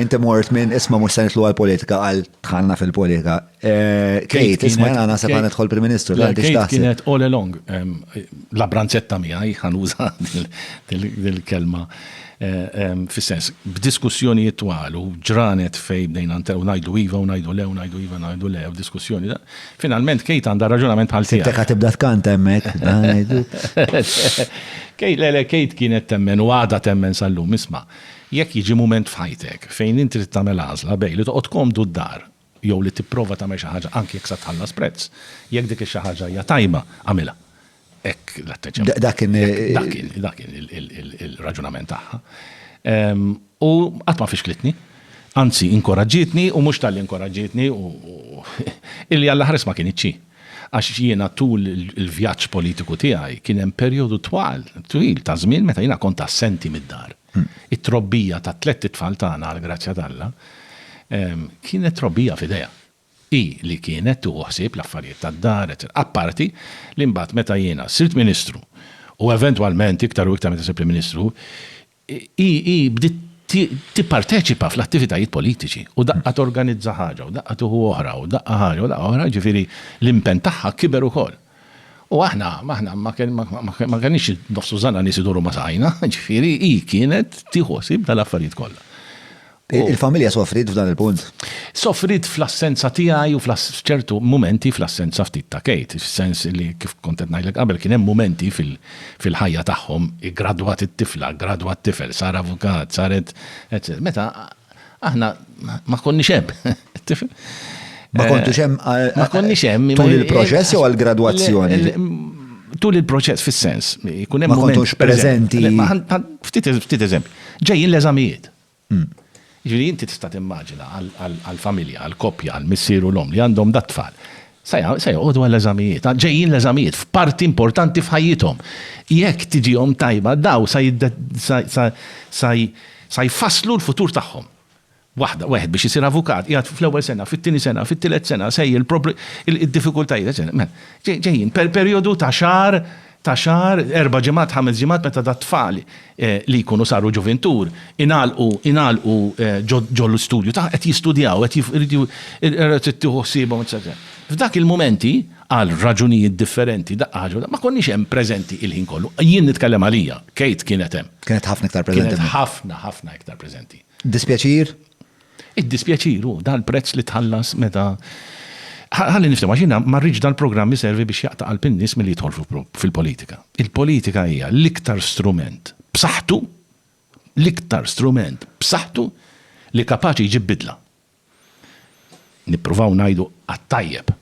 Inti mort minn isma' mhux se nidħlu għall-politika għal dħalna fil-politika. Kate, isma' jiena naħseb ħa nidħol Prim Ministru. Kate kienet all along la branzetta miegħi ħanuża dil-kelma fis-sens b'diskussjonijiet twal u ġranet fejn bdejna u ngħidu iva u ngħidu le u ngħidu iva ngħidu le u diskussjoni. Finalment Kate għandha raġunament bħal tiegħek. Inti qed tibda tkanta hemmhekk. Kate, le le Kate kienet temmen u għadha temmen sal-lum isma'. Jekk jiġi mument f'ħajtek fejn inti trid tagħmel għażla bejn li toqgħod komdu d-dar jew li tipprova tagħmel xi ħaġa anki jekk sa tħallas prezz, jekk dik ix-xi ħaġa hija tajba, agħmilha. Hekk l-atteġġjament. Dak kien. Dak kien, dak kien il-raġunament tagħha. U qatt ma fixklitni. Anzi, inkoraġġietni u mhux talli inkoraġġietni u illi Alla ħares ma kinitx hi. Għax jiena tul il-vjaġġ politiku tiegħi kien hemm perjodu twal, twil ta' żmien meta jiena kont assenti mid-dar. It-trobbija ta' tlett itfal tagħna għall-grazzja t'Alla kienet trobbija f'idejha. Hi li kienet tieħu ħsieb l-affarijiet tad-dar, eċċetera. Apparti li mbagħad meta jiena sirt ministru u eventwalment iktar u iktar meta sirt Prim Ministru, hi bdiet tipparteċipa fl-attivitajiet politiċi u daqqa torganizza ħaġa u daqqa tieħu oħra u daqqa ħaġa u daqqa oħra, jiġifieri l-impenn tagħha kiber ukoll. U aħna, aħna ma kenniex nofsu żana nies iduru ma saqajna, ġifieri hi kienet tieħu ħsieb tal-affarijiet kollha. Il-familja soffrit f'dan il-punt? Soffrit fl-assenza tiegħi u f'ċertu mumenti fl-assenza ftit ta' Kate, fis-sens li kif kont qed ngħidlek qabel kien hemm mumenti fil-ħajja tagħhom, iggradwat it-tifla, ggradwa t-tifel, sar avukat, saret, eċċetera. Meta Aħna ma konniex hemm. Ma kontux hemm ma konniex hemm tul il-proċess jew għall-gradwazzjoni. Tul il-proċess fis-sens, jkun hemm. Ma kontux preżenti. Ftit eżempju. Ġejjin l-eżamijiet. Hmm. Ġifieri inti tista' timmaġina għall-familja, għall-koppja, għall-missier u l-om li għandhom dat-tfal. Se joqogħdu għall-eżamijiet. Ġejjin l-eżamijiet f'parti importanti f'ħajjithom. Jekk tiġihom tajba, dawn se jfasslu l-futur tagħhom. Waħda, wieħed biex isir avukat, qiegħed fl-ewwel sena, fit-tieni sena, fit-tielet sena, sejjer, id-diffikultajiet, eċċetera. Mela, ġejjin, perjodu ta' xahar ta' xahar, erba' ġimgħat, ħames ġimgħat meta dat-tfal li jkunu saru ġuvintur ingħalqu ingħalqu ġo ġo l-istudju tagħ qed jistudjaw, qed jif irid ju era trid tieħu ħsiebhom eċċetera. F'dak il-mumenti, għal raġunijiet differenti, daqqa ħaġa u da ma konniex hemm preżenti il-ħin kollu. Jien nitkellem għalija, Kate kienet hemm. Kienet ħafna iktar preżenti. Kienet ħafna, ħafna iktar preżenti. Dispjaċir? Id-dispjaċir hu dal-prezz li tħallas meta Ħalli nifhem, għax jiena ma rridx dal-programm iservi biex jaqta' qalb in-nies milli jidħol fil-politika. Il-politika hija l-iktar strument b'saħħtu, l-iktar strument b'saħħtu li kapaċi jġib bidla. Nippruvaw ngħidu għat-tajjeb.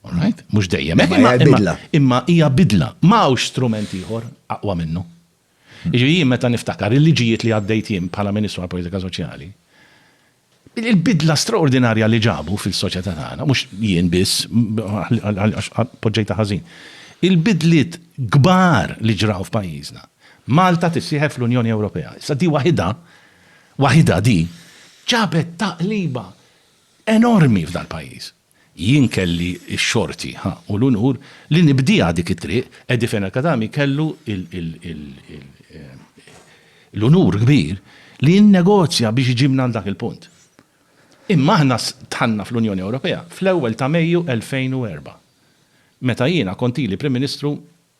All right? Mhux dejjem. Imma hija bidla. Imma hija bidla. Ma hawnx strument ieħor aqwa minnu. Jiġifieri jien meta niftakar il-liġijiet li għaddejt jien bħala Ministru għall-Politika Soċjali, il-bidla straordinarja li ġabu fil-soċjetà tagħna, mhux jien biss għax poġġejtha ħażin, il-bidliet kbar li ġraw f'pajjiżna. Malta tissieħeb fl-Unjoni Ewropea. Issa di waħidha, waħidha di, ġabet taqliba enormi f'dal-pajjiż. Jien kelli x-xorti, ha, u l-unur li nibdieha dik it-triq, Eddie Fenech Khatami kellu l-unur kbir li jinnegozja biex iġibna għal dak il-punt. Imma aħna dħalna fl-Unjoni Ewropea fl-ewwel ta' Mejju 2004, meta jiena kont ili Prim Ministru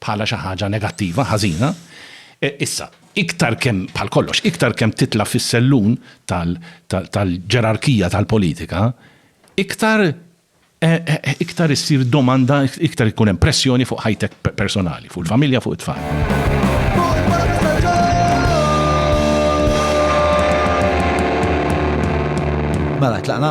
bħala xi ħaġa negattiva, ħażina. Issa, iktar kemm, bħal kollox, iktar kemm titla' fis-sellun tal-ġerarkija tal-politika, iktar iktar issir domanda, iktar ikun hemm pressjoni fuq ħajtek personali, fuq il-familja, fuq it-tfal. Mela, tlaqna?